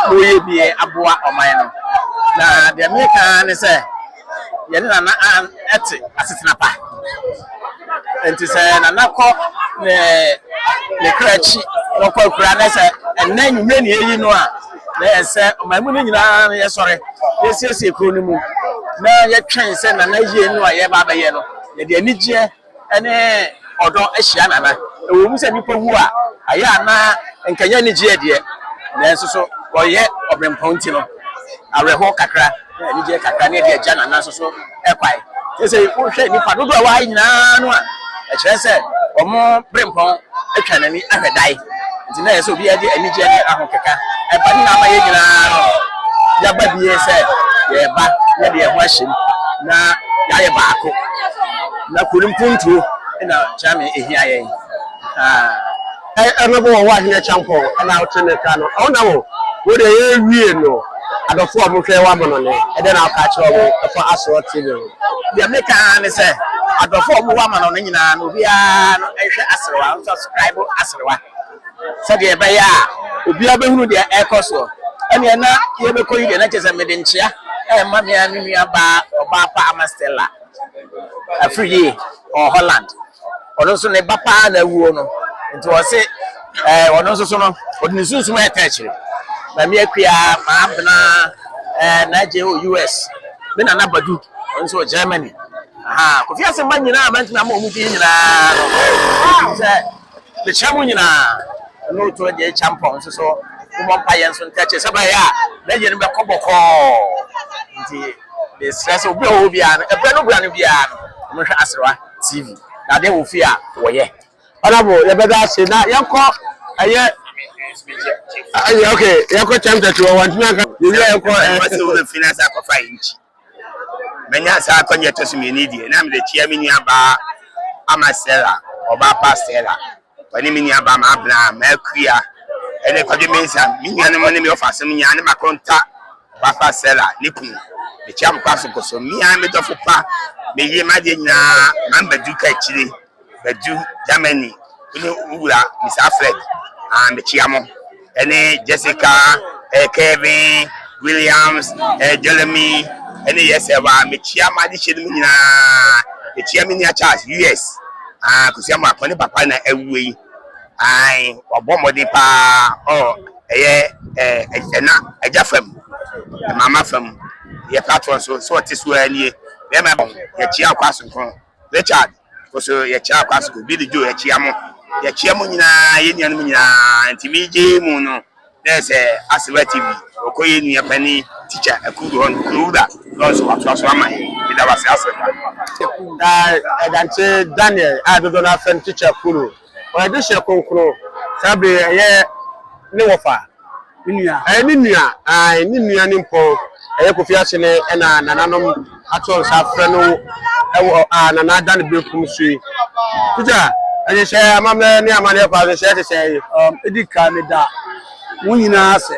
moreyɛ bi aboa ɔman no. Na deɛ mereka ara ne sɛ, yɛne Nana Ann te asetena pa. Enti sɛ Nana kɔ ne ne kra akyi na ɔkɔ akuraa na sɛ ɛnnɛ anwummerɛ na yɛyi no a, na ɛyɛ sɛ ɔman mu no nyinaa no yɛsɔre na yɛsiesie kurow no mu na yɛtwɛn sɛ Nana yie no a yɛreba abɛyɛ no, yɛde anigyeɛ ne ɔdɔ ahyia nana. Ɛwɔ mu sɛ nnipa wu a, ɛyɛ a na anka ɛnyɛ anigyeɛ deɛ, nanso so wɔyɛ ɔberempɔn nti no, awerɛhoɔ kakra ne anigyeɛ kakra ne ɛde agya nana nso so kwan. Seesei wohwɛ nnipa dodoɔ a wɔaha yi nyinaa no a, ɛkyerɛ sɛ wɔn berempɔn atwa n'ani ahwɛ dae. Enti na ɛsɛ sɛ obiara de anigye ne ahokeka ba, ne na ama yɛn nyinaa no yɛaba bie sɛ yɛreba na yɛde yɛn ho ahyɛ mu na yɛayɛ baako. Na kuro no mpuntuo na Gyame hia yɛn paa. Ɛnobo wɔ hɔ a hene Kyampɔn na wote ne ka no ɔna wo wo deɛ yɛrewie no adɔfoɔ a wɔhwɛ wo amanɔne ɛdɛn na woka kyerɛ wɔn ɛfa Asoɔ TV ho? Deɛ meka ara ne sɛ adɔfo a wɔwɔ amano no nyinaa no obiara no nhwɛ aserewa nso subscribe aserewa sɛdeɛ ɛbɛyɛ a obiara bɛhunu deɛ ɛrekɔ soɔ ɛneɛ na yɛbɛkɔ yi deɛ na kyerɛ sɛ mede nkyea ɛma me a me nua baa ɔbaa pa ama Stella afiri yie ɔ Holland ɔno nso ne ba paa na awuo no nti ɔse ɛɛ ɔno nso so no ɔde ne sunsum ɛtɛ akyire na me akua maa bena ɛɛ na agye wɔ US me na na badu ɔno nso wɔ Germany aha kofi ase mma nyinaa ma ntumi ama ɔmo din nyinaa no sɛ mekyerɛ mo nyinaa ɛno otu ɛdeɛ ɛkya mpɔ nso so mmɔ mpa yɛn nso ntɛkyɛ sɛ bɛyɛ a na yɛn no bɛkɔ bɔkɔɔ nti de srɛ sɛ obi a ɔwɔ biara no ɛbrɛ no bra no biara no ɔmo hwɛ aserewa TV na adeɛ wɔ fie a wɔyɛ. Honourable yɛbɛda ase na yɛnkɔ ɛyɛ ɛyɛ ok yɛnkɔ time tɛti wɔ wɔn ntoma nka yɛwi a yɛnkɔ ɛɛ. Wɔsi wo bɛ fi na sa akɔfa yi nkyi mɛnya saa akɔnyɛ tɔso mmienu deɛ na mede kyia me nua baa ama Stella ɔbaa pa Stella. Wɔne me nuabaa Mabena Makuya ne Kwadwo Mensah, me nuanom ne me wɔfa asɛm nyinaa, ne m'akonta Ɔbaafa Sela ne kunu. Mekyia mo kwan so kɔ so. Me ara me dɔfo pa, me yere, m'adeɛ nyinaa, Maame Badu Kakyire, Badu, Germany, wo ne wo wura, Mister Alfred. Ah, mekyia mo. ɛne Jessica, eh, Kevin, Williams, eh, Jeremy, ɛne yes ɛwɔ a mekyia ma de hyɛ no mu nyinaa mekyia me nua Charles US ah kosua mu akɔne papa na awue yi ai ɔbɔ mmɔden paa ɔ ɛyɛ eh, ɛna agya fam mama fam yɛ platform so so ɔte so anie bɛma bɔn yɛkyia akɔ asonkron Richard, Kɔ so yɛkyea Kwasco, Billy Joe yɛkyea mo, yɛkyea mo nyinaa, yɛn nuanom nyinaa, nti me gyee mu no dɛ sɛ Asewa TV wɔkɔ yɛn nua panin Teacher Akudo hɔ no, Kuro Wura Lawrence nso watoa so ama yɛn, meda wo ase Asewa. Na ɛda nkyɛn Daniel a dodoɔ no ara frɛ no Teacher Akudo. Ɔyɛ dehyeɛ kronkron. Saa bere yi ɛyɛ ne wɔfa. Ne nua. Ɛyɛ ne nua. Ae, ne nua nimpɔn. Ɛyɛ Kofi Akyene na nananom ato nsa afrɛ no wɔ a Nana da ne benkum so yi. Peter, nhyehyɛe, amammerɛ ne amanneɛ kwan so, hyɛ te sɛn? Um, edi kan meda mo nyinaa ase.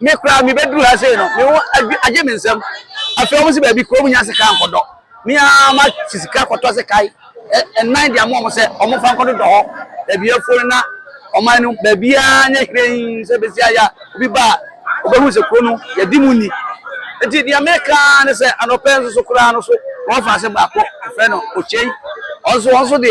Me koraa me bɛduru ha sei no me ho agye me nsam afei wɔn sɛ baabi kurom nya sika nkɔdɔ me ara ma fi sika kɔtɔ sɛ kae ɛnan de ama wɔn sɛ wɔn fa nkɔdodɔ hɔ baabi afuo no na ɔman no baabiara nyɛ hwee sɛ bɛsi ayɛ a obi ba a ɔbɛhu sɛ kuro no yɛdi mu ni nti deɛ meka ne sɛ anɔpɛ nso so koraa no so wɔn fa ase baako ɛfrɛ no okyɛn wɔn nso wɔn nso de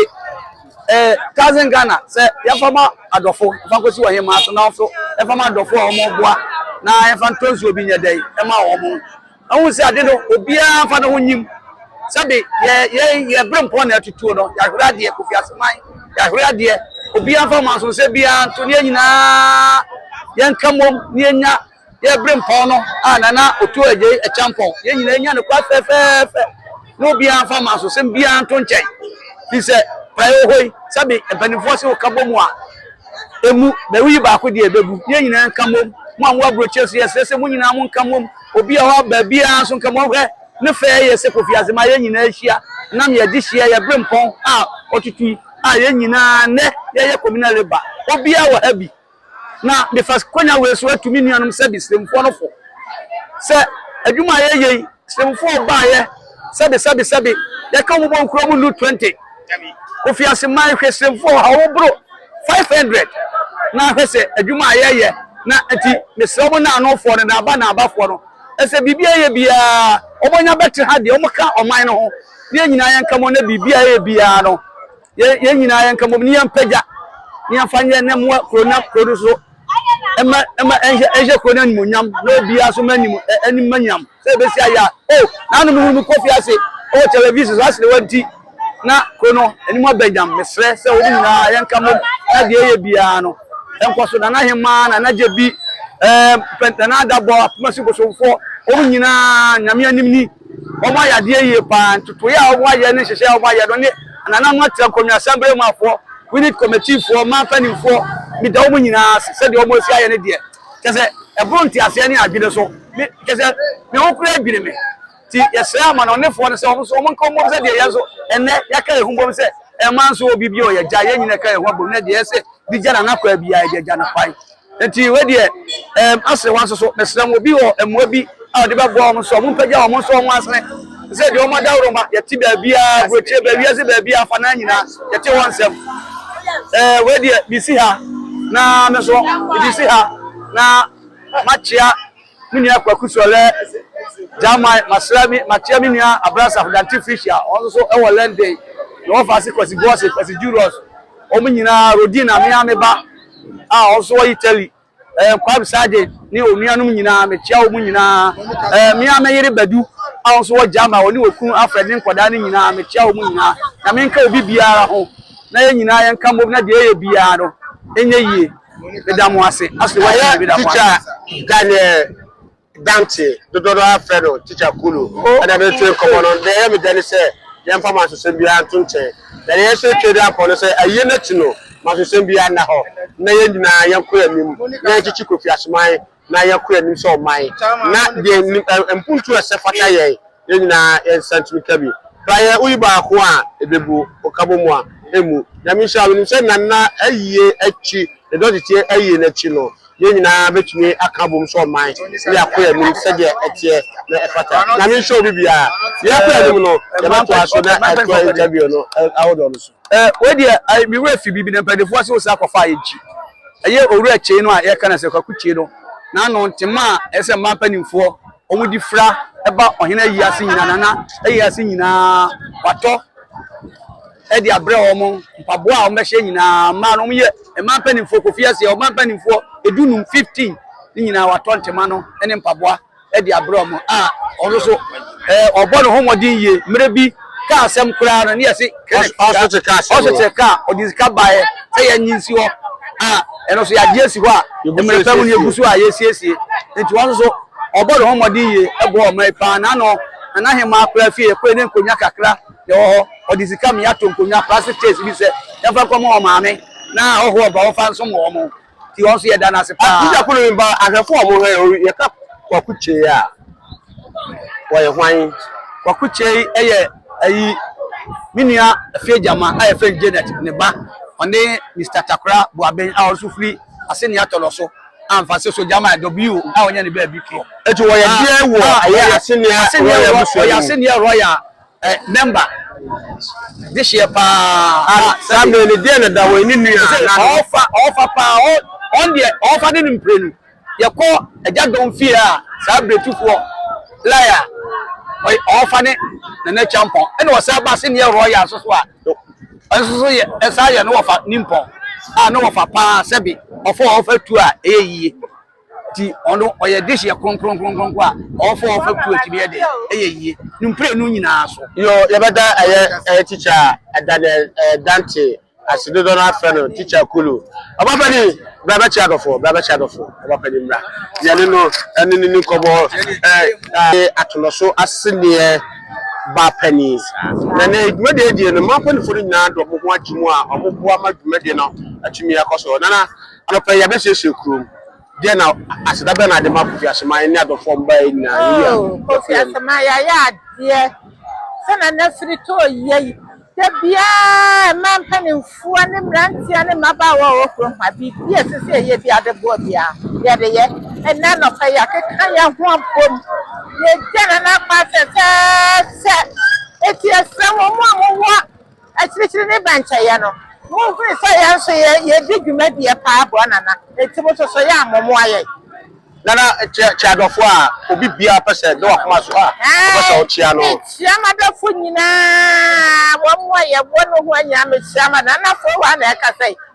Eh, cousin Ghana, sɛ yɛfa ma adɔfo, fa kɔsi wɔ hemaa so, na nso ɛfa ma adɔfo a wɔn boa, na yɛfa ntɔ nsuo bi nyɛ dɛn, ɛma wɔn. Ɛho sɛ ade no, obiara nfa ne ho nyim. Sɛbe, yɛ, yɛ, yɛ bere mpɔn na ɛtutuo no, yɛahwere adeɛ, Kofi Aseman, yɛahwere adeɛ. Obiara nfa mansonsɛ biara nto, ne yɛn nyinaa yɛnka mmom, ne yɛnya yɛ Berempɔn no a Nana Otu Adjei Acheampong, yɛn nyinaa nya no kwa fɛfɛɛfɛ na obiara mfa mansosɛm biara nto nkyɛn, firi sɛ praeɛ wɔ hɔ yi, sɛbe mpanimfoɔ se woka bɔ mu a, ɛmu bɛwe yi baako deɛ ɛbɛgu, yɛn nyinaa nka mmom, mo a mowɔ aburokyire nso yɛsrɛ sɛ mo nyinaa monka mmom, obi a ɔwɔ baabiara nso nka mmom, hwɛ ne fɛ yɛ sɛ Kofi Ase ma yɛn nyinaa hyia nam yɛgye hyeɛ yɛ Berempɔn a ɔtutu yi a yɛn nyinaa nnɛ yɛyɛ Communal Labour, obiara wɔ ha bi. Na mefa kwanya wei so atu me nuanom sɛ Bisremfoɔ no fo sɛ adwuma a yɛyɛ yi, Bisremfoɔ baeɛ sɛbesɛbesɛbe, yɛka wɔn bɔ nkuro mu nnu 20. Kofi Aseman, hwɛ Bisremfoɔ ha, wɔn boro 500. Na hwɛ sɛ adwuma a yɛyɛ, na nti mesrɛ wɔn naanofoɔ no, naaba naabafoɔ no, ɛsɛ biribi a ɛyɛ biara wɔnya bɛte ha deɛ, wɔka ɔman no ho, na yɛn nyinaa yɛnka mu na biribi a ɛyɛ biara no, yɛn nyinaa yɛn nka mom ne yɛn pagya ne yɛn fa nyɛ ne mmoa kuro na kuro no so ɛma ɛma ɛnhyɛ ɛnhyɛ kuro no animonyam na obiara so ma anim anim ma nyam sɛ ebesi ayɛ a o n'ano no mu kofi ase o television so asere wɔn ti na kuro no anim abɛnyam mesrɛ sɛ wɔn nyinaa yɛn nka mom na deɛ ɛyɛ biara no ɛnkɔ so nana hemaa nana gye bi ɛɛ pɛntɛn adabɔ apoma si bosomfoɔ wɔn nyinaa nyame anim ni wɔayɛ adeɛ yie paa. Ntotoeɛ a wɔayɛ ne nhyehyɛeɛ a wɔayɛ no ne anananom atra nkonnwa, asɛmbere muafoɔ, unit kɔmɛtiifoɔ, man mpanimfoɔ, meda wɔn nyinaa ase sɛdeɛ wɔasi ayɛ no deɛ, kyerɛ sɛ ɛboro nteaseɛ ne adwene so. Me, kyerɛ sɛ me ho koraa dwiri me. Nti yɛsrɛ amanɔnefoɔ no sɛ wɔn nso wɔn nka wɔn bom sɛdeɛ yɛn nso ɛnnɛ yɛaka yɛn ho bom sɛ ɛmma nso obi bio yɛgya yɛn nyinaa ka yɛn ho abom na deɛ ɛsɛ de gya Nana Kwaa biara yɛde agya no kwan. Enti wei deɛ ɛɛm asere wɔn nsoso. Mesrɛ mo, obi wɔ mmoa bi a ɔde bɛboa wɔn nso a, mompagya wɔn nso wɔn asene. Te sɛ deɛ wɔn adaworoma, yɛte baabiara, aburokyire baa, wiase baabiara, afanaa nyinaa, yɛte wɔn nsɛm. Ɛɛ wei deɛ, mesi ha na me nso, mede si ha na makyea. Me nua Kwaku Sɔlɛ Gyamai Maserami makyea me nua Abrasaf Dante Fisher wɔn nso so wɔ London, ne wɔfa ase Kwasi Boase, Kwasi Julius, wɔn nyinaa, Rodina me ara me ba a wɔn nso wɔ Italy, eh, Nkwab Sergeant ne wɔn nuanom nyinaa mekyea wɔn nyinaa, eh, me ara me yere Badu a wɔn nso wɔ Gyama wɔne wɔn kunu Alfred ne nkwadaa no nyinaa mekyea wɔn nyinaa, Nyame nka obi biara ho na yɛn nyinaa yɛnka mmom na deɛ yɛyɛ biara no ɛnyɛ yie. Meda mo ase. Ashley West Ɛyɛ meda mo teacher ase. Daniel Dante dodoɔ no ara frɛ no teacher Kulu Oh, ɛna me twe nkɔmmɔ no deɛ ɛyɛ me dɛ ne sɛ yɛmfa mansosɛm biara nto nkyɛn na deɛ yɛhyɛ atwa de akɔ no sɛ ayie no akyi no mansosɛm biara nna hɔ na yɛn nyinaa yɛnkɔ yɛn anim na yɛnkyekye Kofi Asoman na yɛn koro anim sɛ ɔman, na deɛ nim ɛ mpuntuo a ɛsɛ fata yɛn, yɛn nyinaa yɛn nsa ntumi ka bi. Bra yɛn woyi baako a ɛbɛbu ɔkabɔmu a ɛmmu. Nyame nhyira wo. Menim sɛ Nana ayie akyi, ne dɔteteɛ ayie no akyi no, yɛn nyinaa bɛtumi aka abom sɛ ɔman, na yɛakɔ yɛn anim sɛdeɛ ɛteɛ na ɛfata. Nyame nhyira obi biara. Yɛn koro anim no, yɛbɛtoa so na ɛtoa interview no ahodoɔ no so. Wei deɛ me werɛ fi biribi na mpaninfoɔ se wo san kɔfaa yɛn akyi. Ɛyɛ Owura Kyei no a yɛka no sɛ Kwaku Kyei no n'ano ntema a ɛsɛ sɛ mmaa mpanimfoɔ wɔn de fira ba ɔhene ayi ase nyinaa na na ayi ase nyinaa watɔ ɛde abrɛ wɔn mpaboa a wɔn bɛhyɛ nyinaa mmaa no wɔn yɛ mmaa mpanimfoɔ kofi aseɛ ɔbaa mpanimfoɔ edunum fifteen ne nyinaa watɔ ntema no ne mpaboa. de abrɛ wɔn a ɔno nso ɔbɔ ne ho mmɔden yie mmerɛ bi kaa asɛm koraa no ne yɛse ɔsete kaa ɔsete kaa ɔde sika baeɛ sɛ yɛnye nsi hɔ a ɛno nso yɛagye asi hɔ a mmerɛ pa mu ne yɛgu so a yɛsiesie nti wɔn nso ɔbɔ ne ho mmɔden yie ɛboa ɔma yi paa na ano nana hema akora fie kɔɛ ne nkonnwa kakra na ɛwɔ hɔ ɔde sika meyɛ ato nkonnwa plastic chairs bi sɛ yɛmfa nkɔma ɔmaame na ɔhoɔ ba wɔmfa nso ma wɔn nti wɔn nso yɛda no ase paa. Teacher Kulu mi ba ahwɛfo a wɔhwɛ yɛ yɛka Kwaku Kyei a wɔyɛ hwan? Kwaku Kyei yɛ ayi me nua Afie Gyama a yɛfrɛ no Janet ne ba ɔne Mr Takora Boaben a ɔnso firi Aseni Atɔlɔ so amfa se so Gyama W a ɔnyɛ ne baabi korɔ. Eti wɔyɛ deɛ wɔ ɛyɛ Aseni Royal Museum. Ɔyɛ Aseni Royal Ɛ, nɛmba, dehyeɛ paa. Ana, saa mmerɛ no, deɛ na Dawɔn ne nua a na no. Ɔɔfa, ɔɔfa paa, ɔ, ɔn deɛ, ɔɔfa ne no mprenu. Yɛkɔ Agya Dɔn fie a, saa Brɛtifoɔ, Lai a, ɔ, ɔɔfa ne Nana Kyampɔn. Ɛna ɔsan ba Seneɛ Rɔya nso so a, ɔ, nso so yɛ, ɛsan yɛ ne ɔfa Nimpɔn a, ne ɔfa paa, sɛbe ɔfa ɔɔfa tu a, ɛyɛ yie. nti ɔno ɔyɛ dish yɛ kronkron kronkron a ɔfɔ ɔfɔ tu akyi yɛ de ɛyɛ yie ne mpire no nyinaa so. yɔ yɛbɛda ɛyɛ ɛyɛ tikya ɛda ne ɛdante ase dodo no afɛ no tikya kulu ɔbɛfɛ ni bra bɛkyɛ adɔfo bra bɛkyɛ adɔfo ɔbɛfɛ ni mmra yɛne no ɛne ne nkɔbɔ ɛɛ atolɔ so aseneɛ ba panyin na ne dwumadie adie no mapɛnifo no nyinaa dɔ mo ho agye mu a ɔmo boa ma dwumadie no atumi akɔ so nana. Anɔpa yi, yɛabɛsiesie kurom. Deɛ na aseda bɛn na ade ma Kofi Asemang ne adɔfoɔ a wɔbaeɛ nyinaa? Yei a Oh, Kofi yɛfrɛ no. Asamoah, yɛayɛ adeɛ. Sɛnea na firi tɔ yɛ yi, da biara mmaa mpanimfoɔ ne mmeranteɛ ne mmabaawa a wɔwɔ kurom ha, biribi a ɛsɛ sɛ yɛyɛ biara de boa biara, yɛde yɛ. Ɛnnɛ anɔpa yi, yɛakeka yɛn ho abom. Yɛagya Nana Akpah sɛsɛɛsɛ. Enti yɛsrɛ mo, mo a mowɔ Akyirikyiri ne bɛnkyɛeɛ no, monhunu sɛ yɛn nso yɛdi dwumadie paa boa Nana, enti mo nso so yɛ a mommoa yɛn. Nana kyia kyia adɔfoɔ a obi biara pɛ sɛ da w'akoma so a wopɛ sɛ wokyia no. Mekyia m'adɔfoɔ nyinaa, wɔn a yɛwɔ nohoa nyinaa mekyia m'adɔfoɔ. Nanafoɔ hɔ ara na ɛkasa yi.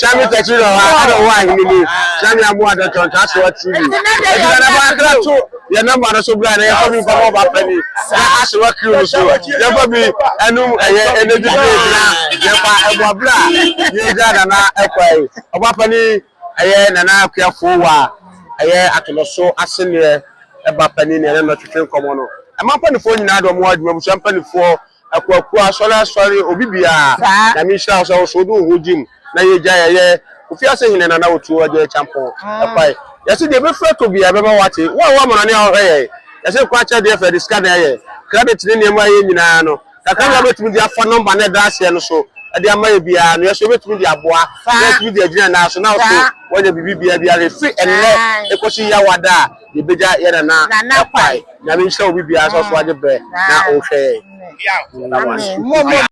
Kyame tɛkyi rɔ ha ɛna ɔwɔ ahene mu Kyame amu adɔ tɔn ta so ɔti bi ɛdi na nabɔ akra to yɛ nɔmba no so bra na yɛfa bi nfa mɔba pɛni na ase wɔ kiri no so yɛfa bi ɛnum ɛyɛ ɛna bi bi na yɛfa ɛbɔ abira yɛ gya nana ɛkwa yi ɔba pɛni ɛyɛ nana akua fo wa ɛyɛ atɔnɔ so ase neɛ ɛba pɛni neɛ ɛna twetwe nkɔmɔ no ɛma mpanifoɔ nyinaa de ɔmo adwuma busua mpanifoɔ Akuakuo asɔre asɔre obi biaa nyame nhyira wo sɛ wo so wode wo ho gye mu na yɛgya yɛyɛ Kofi ase hene nana otuo agya akyampɔn ɛkwae yɛse deɛ ɛbɛfiri atɔ biaa ɛbɛba wate wo a wo amana ne a wohwɛ yɛn yɛse nkwa akyɛ deɛ fɛ de sika na ɛyɛ credit ne nneɛma a ɛyɛ nyinaa no kakra bi a wobɛtumi de afa number no ɛda aseɛ no so de ama yɛ biaa no yɛse wobɛtumi de aboa na yɛtumi de agyina yɛn nan so na wo so woanya biribi biaa biara ɛfiri ɛnnɛ ɛkɔsi yawada a Yɛbɛgya yɛ Nana Nana Kwai. Nyame nhyira obi biara sɛ ɔso agye brɛ na ɔhwɛ yɛn. Amen.